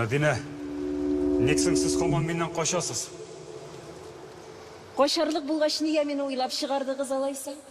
Мәдинә, ник соң сез һаман миннән качасыз? Качарлык булгач, нигә мине уйлап чыгардыгыз алайса?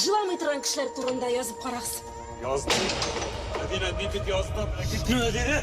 Җыламый торган кешеләр турында язып карагыз. Яздым. Мәдинә, ни дип яздым? Китне Мәдинә!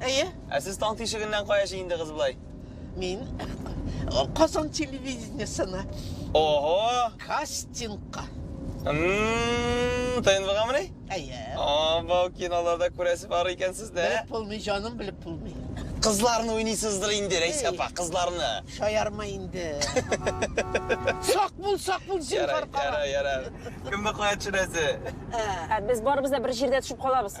Әйе. Ә сез таң тишегеннән кая җыендыгыз болай? Мин Казан телевидениесына. Ого! Кастингка. ТНВга мени? Әйе. Ого, киноларда күрәсе бар икән сезне. Белеп булмый, җаным, белеп булмый. Кызларны уйныйсыздыр инде, Рәйсә апа, кызларны. Шаярма инде. Сак бул, сак бул, зинһар кара. Яра, яра, яра. Кемне кая төшерәсе? Ә, без барыбыз да бер җирдә төшеп калабыз.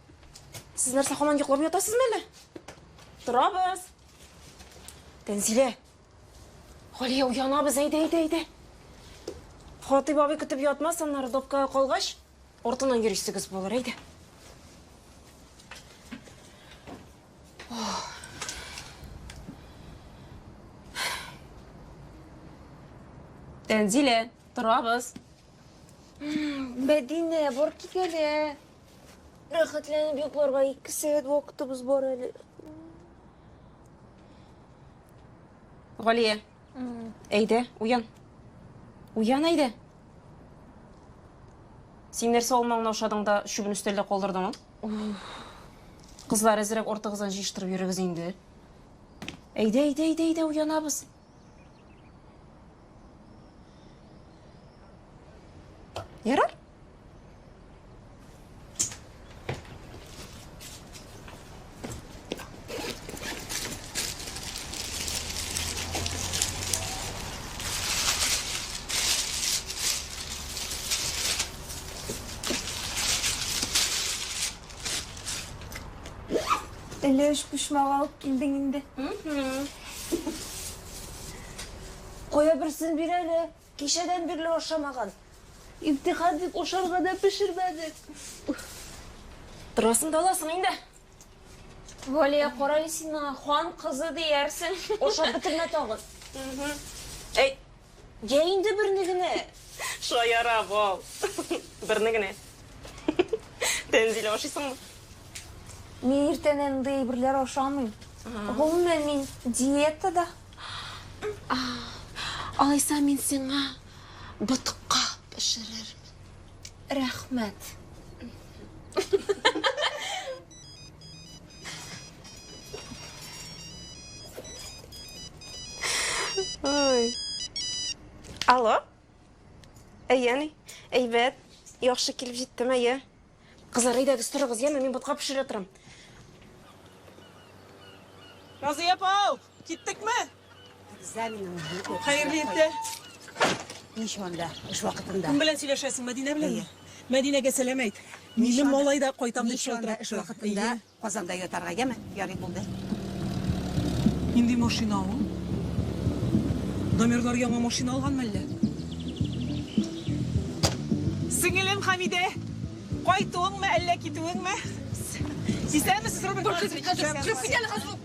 Сез нәрсә хаман йоклап ятасыз мәле? Торабыз. Тәнзилә. Галия уянабыз, әйдә, әйдә, әйдә. Хатыйп абый көтеп ятмас, аннары допкага калгач, артыннан йөрисегез булыр, әйдә. Тәнзилә, торабыз. Мәдинә, бар кит әле. Рәхәтләнеп йокларга ике сәгать вакытыбыз бар әле. Галия, әйдә, уян. Уян, әйдә. Син нәрсә алмаңны ашадың да чүбен өстәлдә калдырдың? Кызлар, әзрәк ортыгыздан җыештырып йөрегез инде. Әйдә, әйдә, әйдә, әйдә, уянабыз. Ярар? Әллә өч почмак алып килдең инде? Кая берсен бир әле. Кичәдән бирле ашамаган. Имтихан дип ашарга да пешермәдек. Торасың да аласың инде. Валия, карале син миңа хан кызы диярсең. Ашап бетермә тагын. Әй, Йә инде берне генә! Шаяра, бал. Берне генә. Тәнзилә, ашыйсыңмы? Мин иртән андый әйберләр ашамыйм. Гомумән, мин диетада. Алайса, мин сиңа ботка пешерермен. Рәхмәт. Ой. Алло? Әйәни, әйбәт, яхшы килеп җиттем, әйе. Кызлар, әйдәгез, торыгыз, яме, мин ботка пешерә торам. Назия апау! Киттек ме? Хәерле иртә. Нич монда, эш вакытында. Кем белән сөйләшәсең, Мәдинә белән? Мәдинәгә сәлам әйт. Минем малай да кайтам дип шалтыратты. Эш вакытында Казанда ятарга яме, ярый булды. Нинди машина ул? Дамирлар яңа машина алганмы әллә? Сеңелем Хамидә, кайтуыңмы әллә китүеңме? Сисәмесез, Рубин? Кырып китәле хәзер.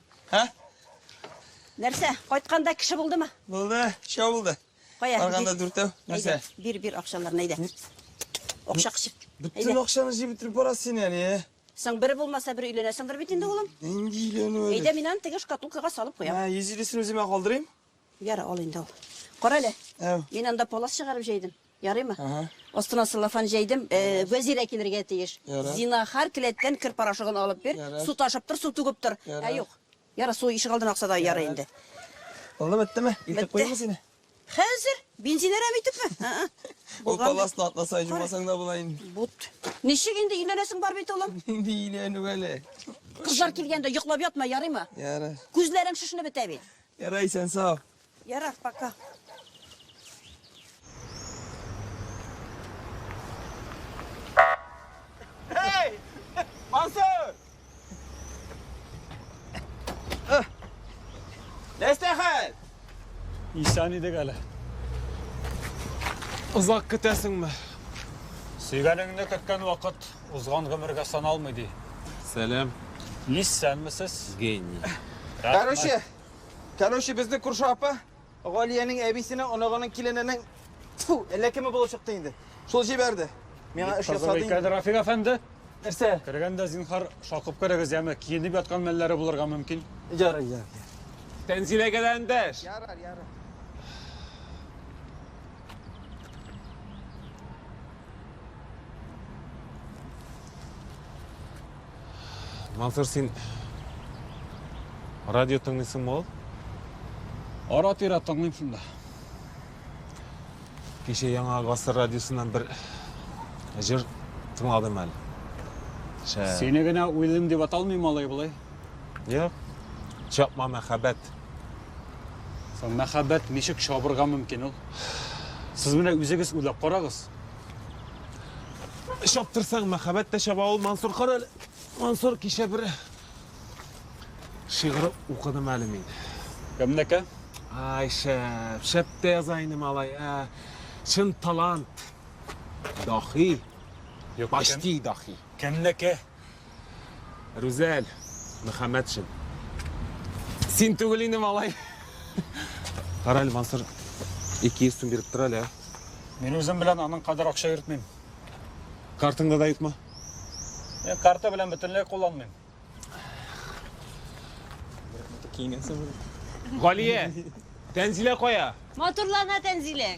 Һә? Нәрсә, кайтканда кеше булдымы? Булды, шау булды. Кая? Барганда дүртәү. Нәрсә? Бир, бир акчаларны, әйдә. Акча кышып. Бөтен акчаны җыеп бетереп барасыз син әле. Соң бер булмаса бер өйләнәсеңдер бит инде, улым. Нинди өйләнү әле? Әйдә, мин аны теге шкатулкага салып куям. Ә, 150 син үземә калдырыйм. Ярый ал инде ул. Кара әле. Мин анда палас чыгарып җәйдем. Ярыймы? Астына целлофан җәйдем. Вәзирә килергә тиеш. Зинахар, келәттән кер порошогын алып бир. Су ташып тор, су түгеп тор. Ә юк. Ярый, су ишек алдына акса да ярый инде. Булды, беттеме? Илтеп куйыйммы сине? Хәзер? Бензин әрәм итепме? Ә-ә. Ул паласны атласаң, җумасаң да була инде. Бут. Ничек инде өйләнәсең бар бит, улым? Нинди өйләнү әле? Кызлар килгәндә йоклап ятма, ярыймы? Ярый. Күзләрең шешенеп бетә бит. Ярар, исән сау. Ярар, пока. Эй! Мансур! Нәрсә хәл? Исән идек әле. Озак көтәсеңме? Сөйгәнеңне көткән вакыт Узган гомергә саналмый ди. Сәлам. Исәнмесез. Гений. Короче, короче, безнең күрше апа Галиянең әбисенең оныгының килененең тфу, әллә кеме булып чыкты инде. Шул җибәрде. Миңа эш ясады. Тазалый инде. Рафик әфәнде. Нәрсә? Кергәндә зинхар шакып керегез, яме киенеп яткан мәлләре булырга мөмкин. Ярый, ярый. Тәнзиләгә дә эндәш. Ярар, ярар. Мансур, син радио тыңлыйсың мол? Ара тирә тыңлыйм шунда. Кеше яңа гасыр радиосыннан бер җыр тыңладым әле. Шә. Сине генә уйлыйм дип аталмый малай болай. Йә. Чапма мәхәббәт. Соң мәхәббәт ничек чабырга мөмкин ул? Сез менә үзегез уйлап карагыз. Чаптырсаң, мәхәббәт тә чаба ул, Мансур. Кара әле, Мансур, кичә бер шигырь укыдым әле мин. Кемнеке? Ай, шәп, шәп тә яза инде малай. Ә, чын талант. Дахи. Юк, Почти дахи. Кемнеке? Рүзәл Мөхәммәтшин. Син түгел инде, малай. Кара әле, Мансур, 200 сум биреп тор әле. Мин үзем белән аның кадәр акча йөртмим. Картыңда да юкмы? Мин карта белән бөтенләй кулланмыйм. Киенгәнсең. Галия, Тәнзилә кая? Матурлана Тәнзилә.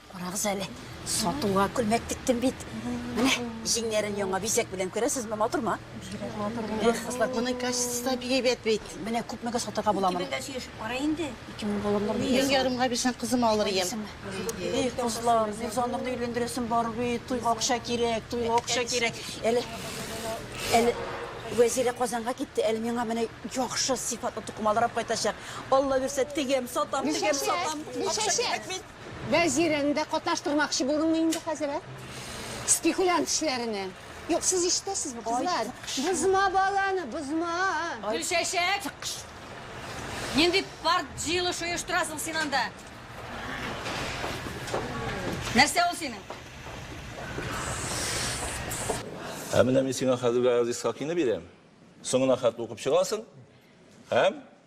Карагыз әле, сатуга күлмәк тектем бит. Менә җиңнәрен яңа бизәк белән күрәсезме, матурмы? Бигрәк матур булды. Эх, кызлар, моның качествосы да бик әйбәт бит. Менә күпмегә сатырга була моны? Бәндә сөйләшеп кара инде. 2000 булырлык бит. Мең ярымга бирсәң, кызыма алыр идем. Эх, кызлар, Мирзанныкны өйләндерәсем бар бит. Туйга акча кирәк, туйга акча кирәк. Әле әле Вәзирә Казанга китте, әле миңа менә яхшы сыйфатлы тукымалар алып кайтачак. Алла бирсә, тегәм, сатам, тегәм, сатам. Акча кирәк бит. Вәзирен дә катнаштырмакчы булдыңмы инде хәзер, ә? Спекулянт эшләренә. Юк, сез ишетәсезме, кызлар? Бозма баланы, бозма! Гөлчәчәк! Нинди парт җыелыш оештырасың син анда? Нәрсә ул синең? Ә менә мин сиңа хәзергә Газизка кине бирәм. Соңына хәтле укып чыгасың һәм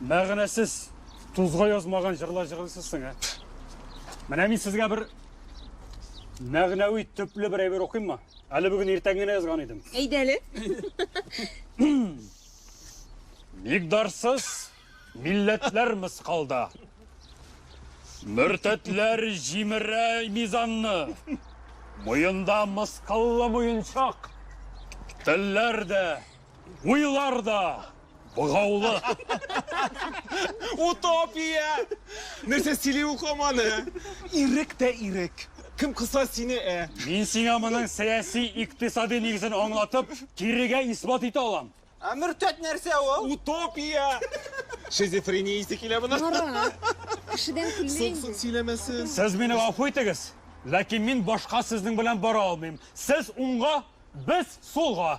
Мәгънәсез, тузга язмаган җырлар җырлыйсыз син, ә? Менә мин сезгә бер мәгънәви төпле бер әйбер укыйммы? Әле бүген иртән генә язган идем. Әйдә әле. Мигдарсыз милләтләр мыскалда. Мөртәтләр җимерә мизанны. Муенда мыскаллы муенчак. Телләр дә, уйлар да. Богаулы! Утопия! Нәрсә сөйли ул хаманы? Ирек тә ирек! Кем кыса сине, ә? Мин сиңа моның сәяси, икътисади нигезен аңлатып, кирегә исбат итә алам. Ә мөртәт нәрсә ул? Утопия! Шизофрения исе килә моның. Мара, кешедән көлмә инде. Суксук сөйләмәсен. Сез мине гафу итегез, ләкин мин башка сезнең белән бара алмыйм. Сез уңга, без сулга.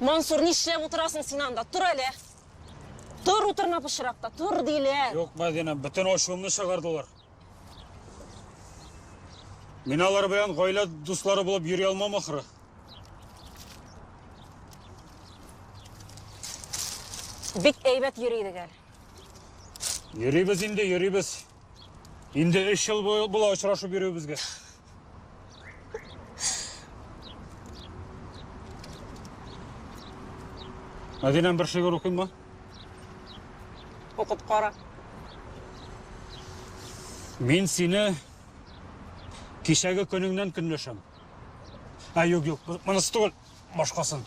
Мансур, нишләп утырасың син анда? Тор әле! Тор, утырма пычракта, тор, диләр! Юк, Мәдинә, бөтен ачуымны чыгардылар. Мин алар белән гаилә дуслары булып йөри алмам ахры. Бик әйбәт йөри идек әле. Йөрибез инде, йөрибез. Инде өч ел була очрашып йөрүебезгә. Мәдинәм бер шигырь укыйммы? Укып кара. Мин сине кичәге көнеңнән көнләшәм. Ә юк, юк, монысы түгел, башкасын.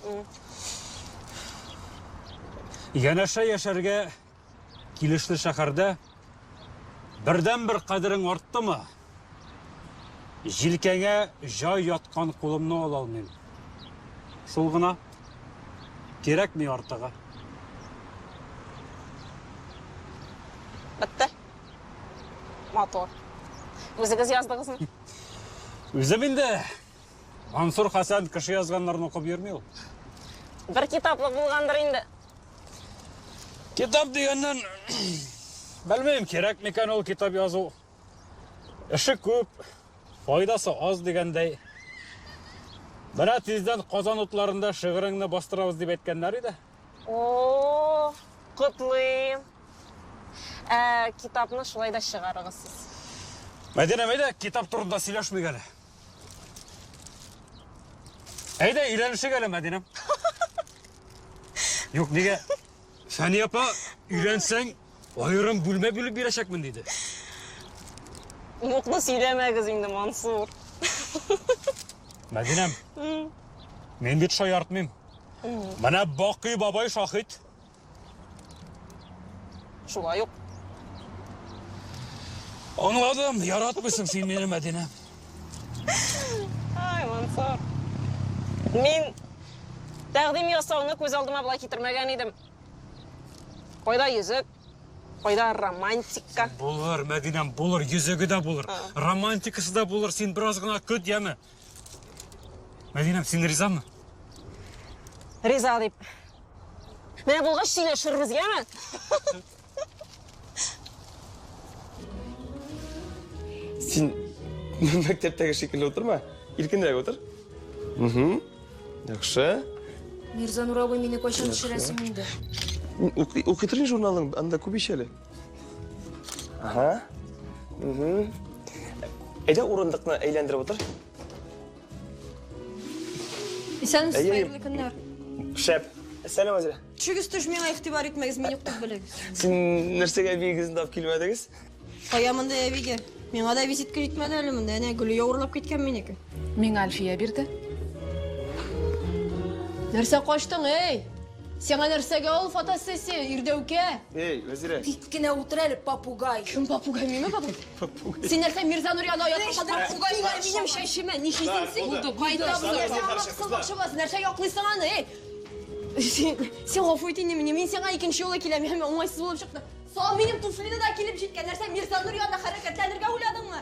Янәшә яшәргә Килешле шәһәрдә бердәнбер кадерең арттымы? Җилкәңә җай яткан кулымны ала алмыйм. Шул гына. Кирәкми артыгы. Бетте. Матур. Үзегез яздыгызмы? Үзем инде. Мансур Хәсән кеше язганнарын укып йөрми ул. Бер китаплы булгандыр инде. Китап дигәннән, белмим, кирәк микән ул китап язу. Эше күп, файдасы аз дигәндәй. Менә тиздән Казан утларында шигыреңне бастырабыз дип әйткәннәр иде. О, котлыйм. Ә китапны шулай да чыгарыгыз сез. Мәдинә, мәйдә, китап турында сөйләшмик әле. Әйдә, өйләнешек әле, Мәдинәм. Юк, нигә? Фәния апа, өйләнсәң, аерым бүлмә бүлеп бирәчәкмен диде. Юкны сөйләмәгез инде, Мансур. Мәдинәм, мин бит шаяртмыйм. Менә Бакый бабай шаһит. Шулай ук. Аңладым, яратмыйсың син мине, Мәдинә. Ай, Мансур. Мин тәкъдим ясауны күз алдыма болай китермәгән идем. Кайда йөзек? Кайда романтика? Булыр, Мәдинәм, булыр, йөзеге дә булыр. Романтикасы да булыр, син бераз гына көт, яме. Мәдинәм, син ризамы? Риза дип. Менә булгач сөйләшербез, яме? Син мәктәптәге шикелле утырма. Иркенрәк утыр. Угу. Яхшы. Мирза Нуровой мине кайчан төшерәсең инде? Укый торыйм журналың, анда күп ич әле. Ага. Угу. Әйдә урындыкны әйләндереп утыр. Исәнмесез, Әйе. хәерле көннәр. Шәп. Сәлам, Азия. Төшегез төш, миңа игътибар итмәгез, мин юк дип белегез. Син нәрсәгә бигезен тап килмәдегез? Кая монда әбигә? Миңа да визитка җитмәде әле монда. Әнә Гөлия урлап киткән минеке. Миңа Альфия бирде. Нәрсә качтың, эй? Сиңа нәрсәгә ул фотосессия, ирдәүкә? Эй, Вәзирә! Тик кенә утыр әле, попугай! Кем попугай, минме попугай? Попугай. Син нәрсә, Мирза Нурианы оятка калдырып, попугайлар минем чәчемә ни хисең син? Булды, булды, булды. Нәрсә яклыйсың аны, эй? Син, син гафу ит инде мине, мин сиңа икенче юлы киләм, һәм уңайсыз булып чыкты. Сал минем туфлине дә килеп җиткән, нәрсә Мирза Нурианы хәрәкәтләнергә уйладыңмы?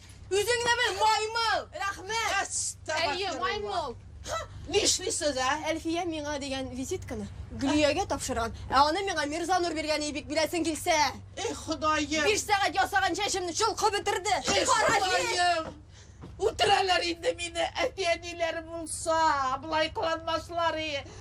Үзең дә бер маймыл! Рәхмәт! Әйе, маймыл! Нишлисез, ә? Әлфия миңа дигән визитканы Гөлиягә тапшырган, ә аны миңа Мирзанур биргән ибик беләсең килсә. Эх, Ходаем! Биш сәгать ясаган чәчемне чолкып бетерде. Эх, Ходаем! Үтерәләр инде мине, әти-әниләре булса, болай кыланмаслар и.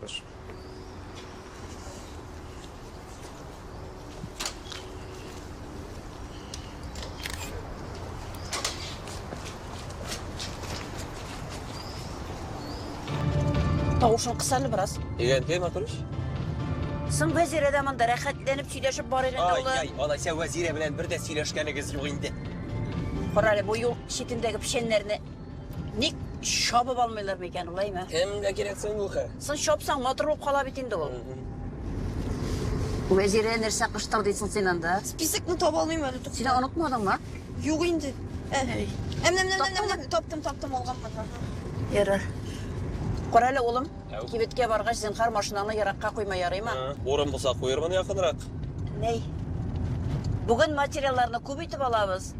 Прошу. Тавышын кысаны бераз. Егән кем атырыш? Соң вәзирә дә монда рәхәтләнеп сөйләшеп барыр инде Ай, улы. ай, алайса вәзирә белән бер дә сөйләшкәнегез юк инде. Карале бу юл читендәге печәннәрне Ник чабып алмыйлар микән, улайма? Кемгә кирәк соң бу хәл? Соң чапсаң, матур булып кала бит инде ул. Вәзирә, нәрсә кыштыр дисең син анда? Списокны таба алмыйм әле, тукта. Син онытмадыңмы? Юк инде. Ә, әм-нәм-нәм-нәм-нәм, таптым, таптым, алганмын. Ярар. Кара әле, улым. Кибеткә баргач, зинхар машинаны еракка куйма, ярыймы? Урын булса куермын якынрак. Ней. Бүген материалларны күп итеп алабыз.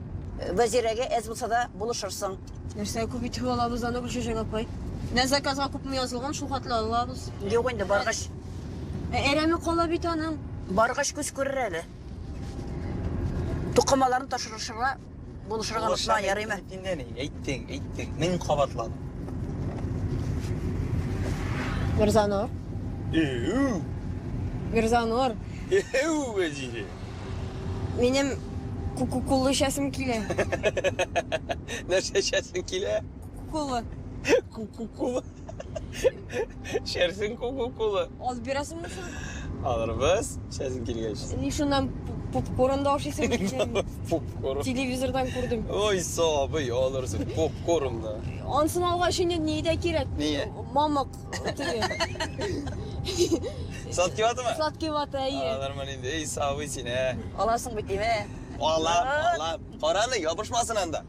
Вәзирәгә әз булса да булышырсың. Нәрсә күп итеп алабыз аны, Гөлчәчәк апай? Менә заказга күпме язылган, шул хәтле алабыз. Юк инде, баргач. Ә әрәме кала бит аның. Баргач күз күрер әле. Тукымаларны ташырышырга. Булышырга онытма, ярыймы? Инде ни, әйттең, әйттең. Мин кабатлам. Мирзанур. Эу. Мирзанур. Эу, Вәзире. Минем кукукулы эчәсем килә. Нәрсә эчәсең килә? Кукулы. Кукукулы. Шәрсең кока-кола. Аз бирәсеңме соң? Алырбыз, шәрсең килгәч. Син ни шуннан попкорн да ашыйсың икән. Попкорн. Телевизордан күрдем. Ой, сабый, алырсың попкорн да. Ансын алгач инде ни дә кирәк. Ни? Мамык теге. Сладкий ватамы? Сладкий вата, әйе. Алырмын инде. Эй, сабый син, ә. Аласың бит, димә. Алам, алам. Караны, ябышмасын анда.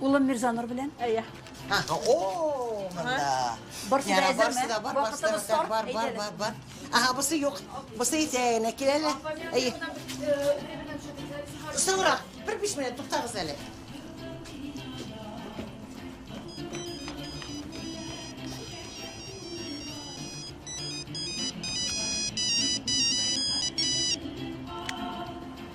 Улым Мирзанур белән. Әйе. Ха, о, монда. Барсы да әзерме? Вакытыбыз тар. Бар, бар, бар, бар. Ага, бусы юк. Бусы исә әнә кил әле. Әйе. Соңрак, бер биш минут туктагыз әле.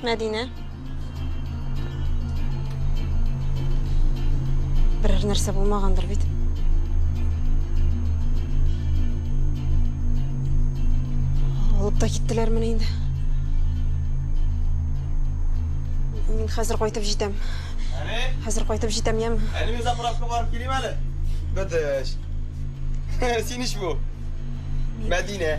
Мәдинә. Берәр нәрсә булмагандыр бит. Алып та киттеләрмени инде. Мин хәзер кайтып җитәм. Әни? Хәзер кайтып җитәм, яме? Әни, мин заправка барып килим әле. Бәдәш. Син ич бу. Мәдинә.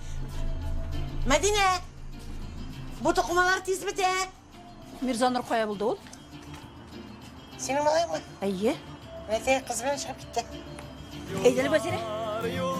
Мәдинә! Бу тукымалар тиз бетә! Мирзанур кая булды ул? Синең малай ма? Әйе. Мәдинә кыз белән чыгып китте. Әйдәле Вәзирә.